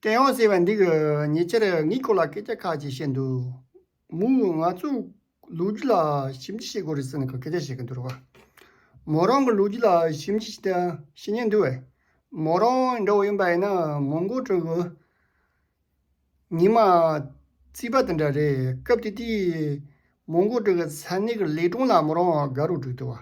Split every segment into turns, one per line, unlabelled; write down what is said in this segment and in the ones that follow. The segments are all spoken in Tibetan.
བསྟན་འོང་ཟེར་བ་འདི་གི་ཉེ་ཆར་ངའི་སྐོར་ལ་སྐད་ཆ་ཁག་ཅིག་བཤད་འདུག་མོ་ང་ཚོ་ལོ་རྒྱུས་ལ་ཞིབ་འབྲི་བྱེད་དགོས་རེད་ཟེར་ནས་སྐད་ཆ་བཤད་ཀྱི་འདུག་མོ་རང་གི་ལོ་རྒྱུས་ལ་ཞིབ་འབྲི་བྱེད་ཉན་འདུག་བས་མོ་རང་འདྲ་བོ་ཡིན་པ་ཡིན་ན་མོ་མགོ་དྲོ་གི། ཉི་མ་རྩིས་པ་དེ་འདྲ་རེད་སྐབས་དེ་དུས་མོ་མགོ་དྲོ་གི་ས་གནས་ཀྱི་ལས་དྲུང་ལ་མོ་རང་དགའ་རོགས་བསྒྲིགས་འདུག་བ།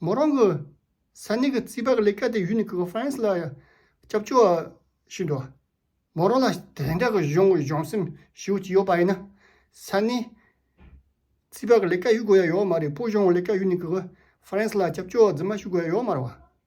མོ་རང་གི་ས་གནས་ཀྱི་རྩིས་པ་ལས་ཀ་དེ་ཡུ་ནི་ཀི་ཀོནཕརེན་སི་ལ་སྐྱབས་བཅོལ་བ་ཞིག་འགྲོ། མོ་རང་ལ་དེ་འདྲ་གི་གཞུང་གི་སྦྱོང་སེམས་ཞིག་ཅིག་ཡོད་པ་ཡིན་ན། ས་གནས་རྩིས་པ་ལས་ཀ་ཡུ་དགོས་ཡ་ཡོད་མ་རེད་སྤོ་སྦྱོང་ལས་ཀ་ཡུ་ནི་ཀི་ཀོནཕརེན་སི་ལ་སྐྱབས་བཅོལ་བ་རྫི་མ་ཞུ་དགོས་ཡ་ཡོད་མ་རེད་བ།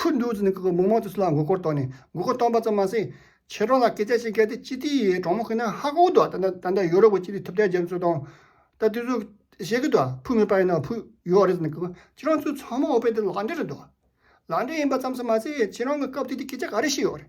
ཕུ་འདུག་ཟིན་གྱི་མིག་མང་དུ་སུ་ལ་མགོ་སྐོར་དོགས་ནས་མགོ་སྐོར་བཏང་པ་ཙམ་མ་ཟད། ཁྱེད་རང་ལ་སྐད་ཆ་ཞིག་བཤད་དེ་སྤྱི་ཏི་ཡའི་གྲོགས་མོ་ཁོ་ན་ཧ་གོ་འདུག་ད་ལྟ་ད་ལྟ་ཡོ་རོབ་ཀྱི་སྤྱི་ཏི་ཐུབ་བསྟན་རྒྱ་མཚོ་དང། ད་དུས་ཚོད་བཤད་གི་འདུག་ཕུ་མེད་པ་ཡིན་ན་ཕུ་ཡོད་རེད་ཟིན་གྱི་ཁྱེད་རང་ཚོའི་ཚང་མ་འོ་ཕེབས་དེ་ལག་འབྲེལ་རེད་འདུག་ལག་འབྲེལ་ཡིན་པ་ཙམ་ཟེར་མ་ཟད་ཁྱེད་རང་གི་སྐབས་དེ་དུས་སྐད་ཆ་ག་རེ་བཤད་ཡོད་རེད།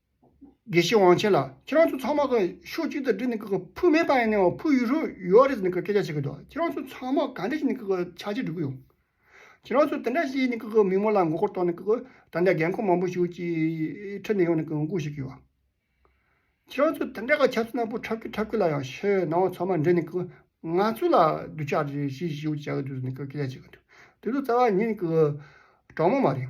དགེ་བཤེས་དབང་ཆེན་ལགས་ཁྱེད་རང་ཚོ་ཚང་མ་གི་ཕྱོགས་གཅིག་ཏུ་བསྒྲིལ་ནས་གི་ཕུ་མེད་པ་ཡིན་ནའང་ཕུ་ཡུལ་ཧྲུལ་ཡོད་རེད་ཟེར་ནས་གི་སྐད་ཆ་བཤད་གི་འདུག་ཁྱེད་རང་ཚོ་ཚང་མ་ག་འདྲ་ཞིག་ནས་གི་ཆགས་ཅི་འགྲོ་གི་ཡོད། ཁྱེད་རང་ཚོ་དེ་འདྲ་བྱས་ནས་གི་མི་མང་ལ་མགོ་སྐོར་གཏོང་ནས་གི་ད་ལྟ་རྒན་འཁོགས་མང་པོ་ཞིག་གི་ཁྲི་ནས་ཡོང་ནས་གི་མགོ་བཤུ་གི་ཡོད། ཁྱེད་རང་ཚོ་དེ་འདྲ་གི་ཆབ་སྲིད་ནག་པོ་འཁྲབ་ཀི་འཁྲབ་ཀི་ལ་ཡང་ཕྱི་ནང་ཚང་མ་འདྲེས་ནས་གི་ང་ཚོ་ལ་རྡུལ་ཆགས་རེ་བྱས་ཞེས་བྱས་གི་འདུག་ཟེར་ནས་གི་སྐད་ཆ་བཤད་གི་འདུག་དེ་ཚོ་རྩ་བ་ཉིད་ནས་གི་དྲང་མོ་མ་རེད།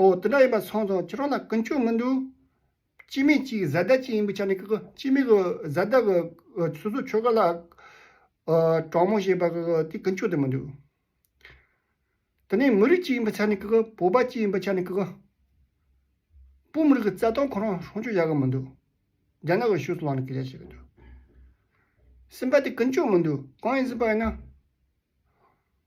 ཨོ། དེ་འདྲ་ཡིན་པ་སོང་སོང་ཁྱེད་རང་ལ་ཀུན་སྤྱོད་མི་འདུག། སྤྱི་མེས་གཅིག་བཟའ་ཟླ་གཅིག་ཡིན་པའི་ཆ་ནས་ཀྱི་སྤྱི་མེས་ཀྱི་བཟའ་ཟླ་ཀྱི་སོ་སོའི་ཆོལ་ཁ་ལ་དྲང་མོ་བྱེད་པ་ཀྱི་དེ་ཀུན་སྤྱོད་དེ་མི་འདུག། དེ་ནས་མི་རིགས་གཅིག་ཡིན་པའི་ཆ་ནས་ཀྱི་བོད་པ་གཅིག་ཡིན་པའི་ཆ་ནས་ཀྱི་བོད་མི་རིགས་ཀྱི་རྩ་དོན་ཁོ་རང་སྲུང་སྐྱོབ་བྱ་གི་མི་འདུག། རྒྱ་ནག་གི་ཤུགས་སུ་ལངས་ནས་ཀྱི་ལས་བྱེད་ཀྱི་འདུག། སེམས་པ་དེ་ཀུན་སྤྱོད་མི་འདུག་གང་ཡིན་ཟེར་པ་ཡིན་ན།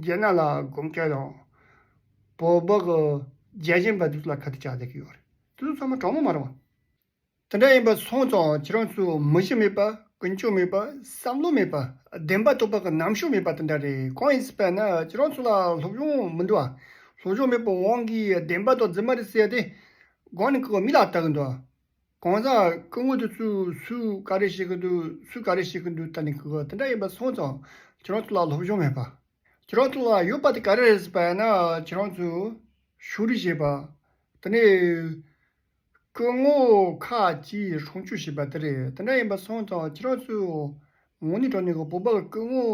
རྒྱལ་ནག་ལ་དགོངས་སྐལ་ཡང། བོད་འབངས་རྒྱལ་ཆེན་པ་ཚོ་ལ་ག་དུས་བཅའ་སྡད་ཀྱི་ཡོད་རེད། དེ་ཚོ་ཚང་མ་དྲང་མོ་མ་རང་བ། དེ་འདྲ་ཡིན་པ་སོང་ཙང་ཁྱེད་རང་ཚོས་མི་གཞི་མེད་པ་ཀུན་སྤྱོད་མེད་པ་བསམ་བློ་མེད་པ་བདེན་པ་རྟོགས་པ་གི་རྣམ་ཤོས་མེད་པ་དེ་འདྲ་རེད་གང་ཡིན་ཟེར་པ་ན་ཁྱེད་རང་ཚོ་ལ་སློབ་སྦྱོང་མི་འདུག་སློབ་སྦྱོང་མེད་པའི་དབང་གིས་བདེན་པ་དང་རྫུན་མ་རེ་བཤད་དེ་སྒང་ནས་ཀྱི་མི་ལ་བལྟ་གི་འདུག། གང་ཟག་སྐུ་ངོ་དེ་ཚོས་སུས་ག་རེ་བྱེད་ཀྱི་འདུག་སུས་ག་རེ་བྱེད་ཀྱི་འདུག་ད་ནི་གོ་དེ་འདྲ་ཡིན་པ་སོང་ཙང་ཁྱེད་རང་ཚོ་ལ་སློབ་སྦྱོང་མེད་པ། ཁྱེད་རང་ཚོ་ལ་ཡོད་པ་དེ་ག་རེ་རེད་ཟེར་པ་ཡིན་ན་ཁྱེད་རང་ཚོས་ཕྱོགས་རིས་བྱེད་པ། དེ་ནས་སྐུ་ངོ་ཁ་ཅིག་ཧྲོང་ཆུ་བྱེད་པ་དེ་རེད་དེ་འདྲ་ཡིན་པ་སོང་ཙང་ཁྱེད་རང་ཚོས་ངོ་ནི་གྲོ་ནས་གོ་བོད་པ་སྐུ་ངོ་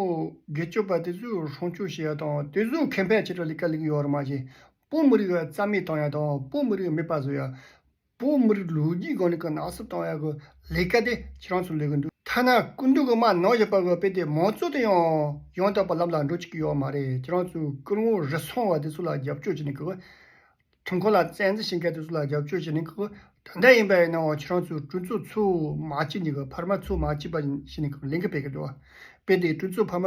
དགེ་སྤྱོད་པ་དེ་ཚོས་ཧྲོང་ཆུ་བྱེད་ཡ་དང་དེ་ཚོས་ཁེ་ཕན་ཆེད་དུ་ལས་ཀ་ལས་ཀྱི་ཡོད་རེད་མ་བྱེད་བོད་མི་རིགས་རྩ་མེད་བཏང་ཡ་དང་བོད་མི་རིགས་མེད་པ་བཟོ་ཡ། བོད་མི་རིགས་ལོ་རྒྱུས་སྒང་ནས་ཀྱི་ནག་སུབ་བཏང་ཡག་གི་ལས་ཀ་དེ་ཁྱེད་རང་ཚོ་ལས་གི་འདུག་ཐ་ན་སྐུ་མདུན་གྱི་མར་ནག་ཞེས་པ་གི་དཔེ་དེ་མང་གཙོ་དེ་ཡང་ཡང་དག་པར་ལམ་ལ་འགྲོ་བཅུག་གི་ཡོག་མ་རེད་ཁྱེད་རང་ཚོས་སྐུ་ངོ་རི་སོང་བ་དེ་ཚོ་ལ་རྒྱབ་སྐྱོར་བྱེད་ནས་ཀྱི་ཁྲིམས་ཁང་ལ་བཙན་འཛིན་བྱེད་མཁན་དེ་ཚོ་ལ་རྒྱབ་སྐྱོར་བྱེད་ནས་ཀྱི་དོན་དག་ཡིན་པ་ཡིན་ནའང་ཁྱེད་རང་ཚོས་སྐྲུན་ཚོགས་ཚུགས་མ་བྱས་ནས་ཀྱི་ཕར་མ་ཚུགས་མ་བྱས་པ་བཞིན་ནས་ཀྱི་ལས་འགུལ་སྤེལ་གི་འདུག་དཔེ་དེ་སྐྲུན་ཚོགས་ཕར་མ་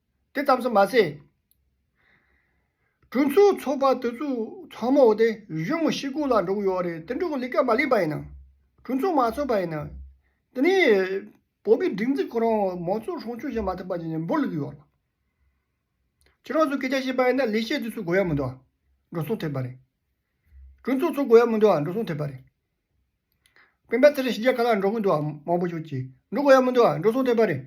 དེ་ཙམ་ཟེར་མ་ཟད། གྲོས་ཚོགས་ཚོགས་པ་དེ་ཚོ་ཚང་མ་འོ་དེ་གཞུང་ཤེས་སྐོར་ལ་འགྲོ་གི་ཡོད་རེད་དེ་འགྲོ་གི་ལས་ཀ་མ་ལེགས་པ་ཡིན་ན། གྲོས་ཚོགས་མ་ཚོགས་པ་ཡིན་ན། དེ་ནས་བོད་པའི་སྒྲིག་འཛུགས་ཁོ་རང་མང་གཙོ་སྲུང་སྐྱོང་བྱེད་མ་ཐུབ་པ་ཡིན་ནས་འབོར་ལུག་ཡོད་རེད། ཁྱེད་རང་ཚོ་སྐད་ཆ་བཤད་པ་ཡིན་ན་ལས་བྱེད་དེ་ཚོ་དགོས་ཡ་མི་འདུག་ཨ་འགྲོ་སོང་ཐེབས་པ་རེད། གྲོས་ཚོགས་ཚོགས་དགོས་ཡ་མི་འདུག་ཨ་འགྲོ་སོང་ཐེབས་པ་རེད། དཔོན་པོ་དེ་རིང་ཞི་རྒྱལ་ག་ལ་འགྲོ་གི་འདུག་ཨ་མང་པོ་ཞིག་གིས་འགྲོ་གི་ཡ་མི་འདུག་ཨ་འགྲོ་སོང་ཐལ་བ་རེད།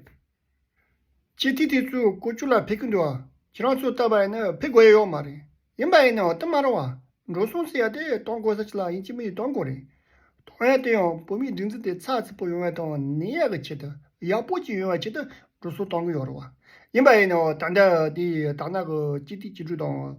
ཁྱེད་ཐིག་ཐིག་ཚོས་སྐོར་བཅུ་ལ་ཕེབས་ཀྱི་འདུག་ཨ་ཁྱེད་རང་ཚོས་ལྟ་བ་ཡིན་ན་ཕེབས་དགོས་ཡས་ཡོག་མ་རེད་ཡིན་པ་ཡིན་ན་ཨོ་ཏི་མ་རུང་ཨ་འགྲོ་སོང་ཟེར་ཡ་དེ་གཏོང་དགོས་ས་ཅིག་ལ་ཡིན་གཅིག་མི་ཡིན་གཏོང་དགོས་རེད་གཏོང་ཡ་དེ་ཡང་བོད་མིའི་སྒྲིག་འཛིན་དེ་ཚགས་ཚུད་པོ་ཡོང་བའི་དང་ནི་ཡག་གི་ཆེད་དུ་ཡག་པོ་ཅིག་ཡོང་བའི་ཆེད་དུ་འགྲོ་སོང་གཏོང་གི་ཡོག་རེད་ཡིན་པ་ཡིན་ན་ཨོ་ད་ལྟ་དེ་ད་ནག་གི་སྤྱི་ཐིག་སྤྱི་འགྲུལ་དང།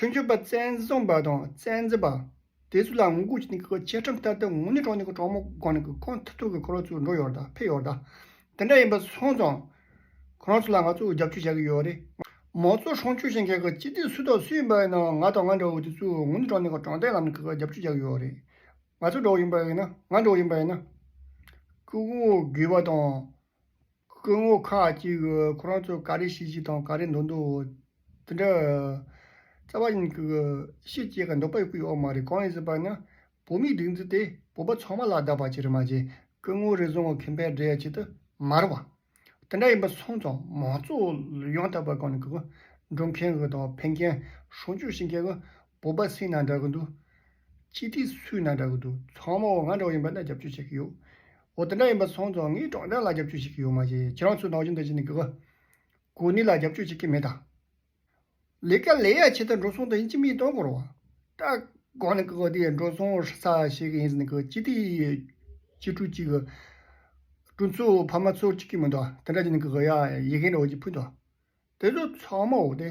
ཁྲུན་ཆུང་པ་བཙན་བཟུང་པ་དང་བཙན་འཛུལ་པ། དེ་ཚོ་ལ་ངོ་རྒོལ་བྱས་ནས་བཅད་ཁྲིམས་བསྟར་ཏེ་ངོ་ནས་གྲོང་ནས་གྲོང་མོ་སྒང་ནས་ཁོ་མཐུན་ཚོགས་ཀྱི་འཁོར་ལོ་ཚུར་འགྲོ་ཡོད་རེད་ཕེབས་ཡོད་རེད། དེ་འདྲ་ཡིན་པ་སོང་ཙང། ཁོ་རང་ཚོ་ལ་ང་ཚོ་རྒྱབ་སྐྱོར་བྱ་གི་ཡོད་རེད། མང་གཙོ་སྲུང་སྐྱོབ་བྱེད་མཁན་གྱི་སྤྱི་འཐུས་སུ་དང་སུ་ཡིན་པ་ཡིན་ནའང་ང་དང་ང་འདྲ་བོ་དེ་ཚོས་ངོ་ནས་གྲོང་ནས་གྲོང་བརྡལ་ལམ་ནས་རྒྱབ་སྐྱོར་བྱ་གི་ཡོད་རེད། ང་ཚོ་འདྲ་བོ་ཡིན་པ་ཡིན་ན་ང་འདྲ་བོ་ཡིན་པ་ཡིན་ན། སྐུ་ངོ་དགོས་པ་དང། སྐུ་ངོ་ཁ་ཅིག་གིས་ཁོ་རང་ཚོས་ག་རེ་བྱེད་བྱེད་དང་ག་རེ་འདོད་འདོད་དེ་འདྲ། རྩ་བ་ཉིད་ཀྱི་ཤེད་ཅེས་ཀྱང་འདོད་པ་ཡོད་མ་རེད་གང་ཡིན་ཟེར་པ་ན་བོད་མིའི་སྒྲིག་འཛུགས་དེས་བོད་པ་ཚང་མ་ལ་བདག་པ་བྱེད་རེ་མ་བྱེད་སྐུ་ངོ་རེ་ཟུང་གི་ཁེ་ཕན་སྒྲལ་བྱེད་དུ་མ་རེད་བ། དེ་འདྲ་ཡིན་པ་སོང་ཙང་མང་གཙོ་ཡོང་ཐབས་པ་གང་ནས་གི་འགྲོ་མཁན་གི་དང་ཕན་མཁན་གཞུང་ཕྱོགས་བྱེད་མཁན་གི་སྤོབས་པ་སེང་ན་འདྲ་གི་འདུག། སྤྱི་ཏི་སུའི་ན་འདྲ་གི་འདུག་ཚང་མ་འོ་ང་འདྲ་བོ་ཡིན་པ་ན་རྒྱབ་སྐྱོར་བྱེད་ཀྱི་ཡོད། འོ་དེ་འདྲ་ཡིན་པ་སོང་ཙང་ངས་ཀྲོང་ཀྲང་ལ་རྒྱབ་སྐྱོར་བྱེད་ཀྱི་ཡོད་མ་རེད་ཁྱེད་རང་ཚོས་ནག་ཆུ་འདི་བྱས་ནས་གི་གི། གོ་ནི་ལ་རྒྱབ་སྐྱོར་བྱེད་ཀྱི་མེད་ད། ལས་ཀ་ལས་ཡ་བྱེད་དེ་འགྲོ་སོང་དེ་ཡིན་ཅི་མི་ཡིན་དོན་གོ་རོ། སྐྲག་གོ་ནི་གི་གི་དེ་འགྲོ་སོང་ས་བྱེད་གི་ཡིན་ཟེར་ནི་གི་སྤྱི་ཏི་ཡི་སྤྱི་ཕྲུག་ཅིག་གི། སྤྲུ་མཚོ་ཕ་མ་ཚོར་བྱེད་ཀྱི་མི་འདུག་དེ་འདྲ་བྱས་ནི་གི་གི་ཡ་ཡི་གེ་འདྲ་བོ་ཅིག་ཕུལ་འདུག་དེ་ཚོ་ཚང་མ་འོ་དེ།